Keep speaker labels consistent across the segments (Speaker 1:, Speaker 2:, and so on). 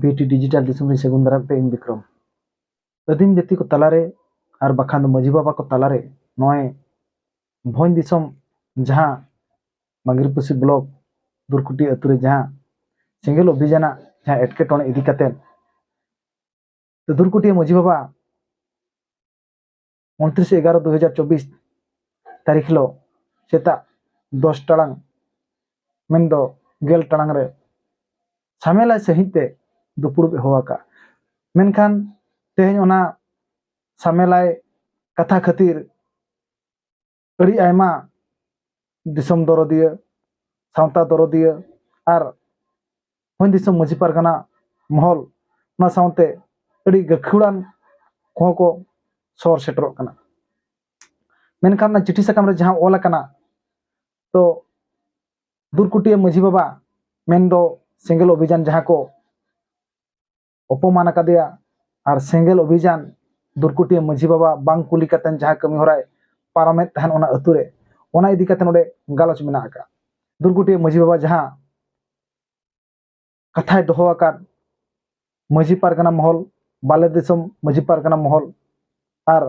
Speaker 1: ᱵᱤᱴᱤ ᱰᱤᱡᱤᱴᱟᱞ ᱫᱤᱥᱚᱢ ᱨᱮ ᱥᱟᱹᱜᱩᱱ ᱫᱟᱨᱟᱢ ᱯᱮ ᱤᱧ ᱵᱤᱠᱨᱚᱢ ᱟᱹᱫᱤᱢ ᱡᱟᱹᱛᱤ ᱠᱚ ᱛᱟᱞᱟᱨᱮ ᱟᱨ ᱵᱟᱠᱷᱟᱱ ᱫᱚ ᱢᱟᱹᱡᱷᱤ ᱵᱟᱵᱟ ᱠᱚ ᱛᱟᱞᱟᱨᱮ ᱱᱚᱜᱼᱚᱭ ᱵᱷᱚᱸᱡᱽ ᱫᱤᱥᱚᱢ ᱡᱟᱦᱟᱸ ᱢᱟᱜᱤᱨᱯᱩᱥᱤ ᱵᱞᱚᱠ ᱫᱩᱨᱠᱩᱴᱤ ᱟᱹᱛᱩ ᱨᱮ ᱡᱟᱦᱟᱸ ᱥᱮᱸᱜᱮᱞ ᱚᱵᱷᱤᱡᱟᱱᱟᱜ ᱡᱟᱦᱟᱸ ᱮᱴᱠᱮᱴᱚᱬᱮ ᱤᱫᱤ ᱠᱟᱛᱮᱫ ᱫᱩᱨᱠᱩᱴᱤ ᱢᱟᱹᱡᱷᱤ ᱵᱟᱵᱟ ᱩᱱᱛᱨᱤᱥ ᱮᱜᱟᱨᱚ ᱫᱩ ᱦᱟᱡᱟᱨ ᱪᱚᱵᱵᱤᱥ ᱛᱟᱹᱨᱤᱠᱷ ᱦᱤᱞᱳᱜ ᱥᱮᱛᱟᱜ ᱫᱚᱥ ᱴᱟᱲᱟᱝ ᱢᱮᱱᱫᱚ ᱜᱮᱞ ᱴᱟᱲᱟᱝ ᱨᱮ ᱥᱟᱢᱮᱞᱟᱭ ᱥᱟᱺᱦᱤᱡ ᱛᱮ ᱫᱩᱯᱲᱩᱵ ᱮ ᱦᱚᱦᱚ ᱟᱠᱟᱫᱼᱟ ᱢᱮᱱᱠᱷᱟᱱ ᱛᱮᱦᱮᱧ ᱚᱱᱟ ᱥᱟᱢᱮᱞᱟᱭ ᱠᱟᱛᱷᱟ ᱠᱷᱟᱹᱛᱤᱨ ᱟᱹᱰᱤ ᱟᱭᱢᱟ ᱫᱤᱥᱚᱢ ᱫᱚᱨᱚᱫᱤᱭᱟᱹ ᱥᱟᱶᱛᱟ ᱫᱚᱨᱚᱫᱤᱭᱟᱹ ᱟᱨ ᱦᱚᱧ ᱫᱤᱥᱚᱢ ᱢᱟᱹᱡᱷᱤ ᱯᱟᱨᱜᱟᱱᱟ ᱢᱚᱦᱚᱞ ᱚᱱᱟ ᱥᱟᱶᱛᱮ ᱟᱹᱰᱤ ᱜᱟᱹᱠᱷᱩᱲᱟᱱ ᱠᱚᱦᱚᱸ ᱠᱚ ᱥᱚᱦᱚᱨ ᱥᱮᱴᱮᱨᱚᱜ ᱠᱟᱱᱟ ᱢᱮᱱᱠᱷᱟᱱ ᱚᱱᱟ ᱪᱤᱴᱷᱤ ᱥᱟᱠᱟᱢ ᱨᱮ ᱡᱟᱦᱟᱸ ᱚᱞ ᱟᱠᱟᱱᱟ ᱛᱚ ᱫᱩᱨᱠᱩᱴᱤᱭᱟᱹ ᱢᱟᱹᱡᱷᱤ ᱵᱟᱵᱟ ᱢᱮᱱᱫᱚ ᱥᱮᱸᱜᱮᱞ ᱚᱵᱷᱤᱡᱟᱱ ᱡᱟᱦᱟᱸ ᱠᱚ ᱚᱯᱚᱢᱟᱱ ᱟᱠᱟᱫᱮᱭᱟ ᱟᱨ ᱥᱮᱸᱜᱮᱞ ᱚᱵᱷᱤᱡᱟᱱ ᱫᱩᱨᱠᱩᱴᱤᱭᱟᱹ ᱢᱟᱹᱡᱷᱤ ᱵᱟᱵᱟ ᱵᱟᱝ ᱠᱩᱞᱤ ᱠᱟᱛᱮ ᱡᱟᱦᱟᱸ ᱠᱟᱹᱢᱤ ᱦᱚᱨᱟᱭ ᱯᱟᱨᱚᱢᱮᱫ ᱛᱟᱦᱮᱱ ᱚᱱᱟ ᱟᱹᱛᱩ ᱨᱮ ᱚᱱᱟ ᱤᱫᱤ ᱠᱟᱛᱮ ᱱᱚᱰᱮ ᱜᱟᱞᱚᱪ ᱢᱮᱱᱟᱜ ᱟᱠᱟᱫ ᱫᱩᱨᱠᱩᱴᱤᱭᱟᱹ ᱢᱟᱹᱡᱷᱤ ᱵᱟᱵᱟ ᱡᱟᱦᱟᱸ ᱠᱟᱛᱷᱟᱭ ᱫᱚᱦᱚ ᱟᱠᱟᱫ ᱢᱟᱹᱡᱷᱤ ᱯᱟᱨᱜᱟᱱᱟ ᱢᱚᱦᱚᱞ ᱵᱟᱞᱮ ᱫᱤᱥᱚᱢ ᱢᱟᱹᱡᱷᱤ ᱯᱟᱨᱜᱟᱱᱟ ᱢᱚᱦᱚᱞ ᱟᱨ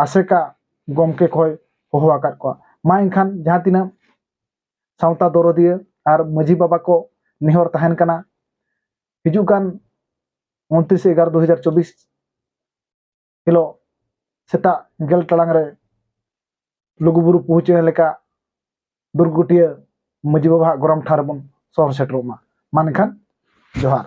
Speaker 1: ᱟᱥᱮᱠᱟ ᱜᱚᱢᱠᱮ ᱠᱚᱭ ᱦᱚᱦᱚ ᱟᱠᱟᱫ ᱠᱚᱣᱟ ᱢᱟ ᱮᱱᱠᱷᱟᱱ ᱡᱟᱦᱟᱸ ᱛᱤᱱᱟᱹᱜ ᱥᱟᱶᱛᱟ ᱫᱚᱨᱚᱫᱤᱭᱟᱹ ᱟᱨ ᱢᱟᱹᱡᱷᱤ ᱵᱟᱵᱟ ᱠᱚ ᱱᱮᱦᱚᱨ ᱛᱟᱦᱮᱱ ᱠᱟᱱᱟ ᱦᱤᱡᱩᱜ ᱠᱟᱱ ᱩᱱᱛᱨᱤᱥ ᱮᱜᱟᱨᱚ ᱫᱩ ᱦᱟᱡᱟᱨ ᱪᱚᱵᱵᱤᱥ ᱦᱤᱞᱳᱜ ᱥᱮᱛᱟᱜ ᱜᱮᱞ ᱴᱟᱲᱟᱝ ᱨᱮ ᱞᱩᱜᱩᱵᱩᱨᱩ ᱯᱩᱦᱩᱪᱮᱬᱮ ᱞᱮᱠᱟ ᱫᱩᱨᱜᱩᱴᱤᱭᱟᱹ ᱢᱟᱹᱡᱷᱤ ᱵᱟᱵᱟᱣᱟᱜ ᱜᱚᱨᱚᱢ ᱴᱷᱟᱶ ᱨᱮᱵᱚᱱ ᱥᱚᱦᱚᱨ ᱥᱮᱴᱮᱨᱚᱜ ᱢᱟ ᱢᱟ ᱮᱱᱠᱷᱟᱱ ᱡᱚᱦᱟᱨ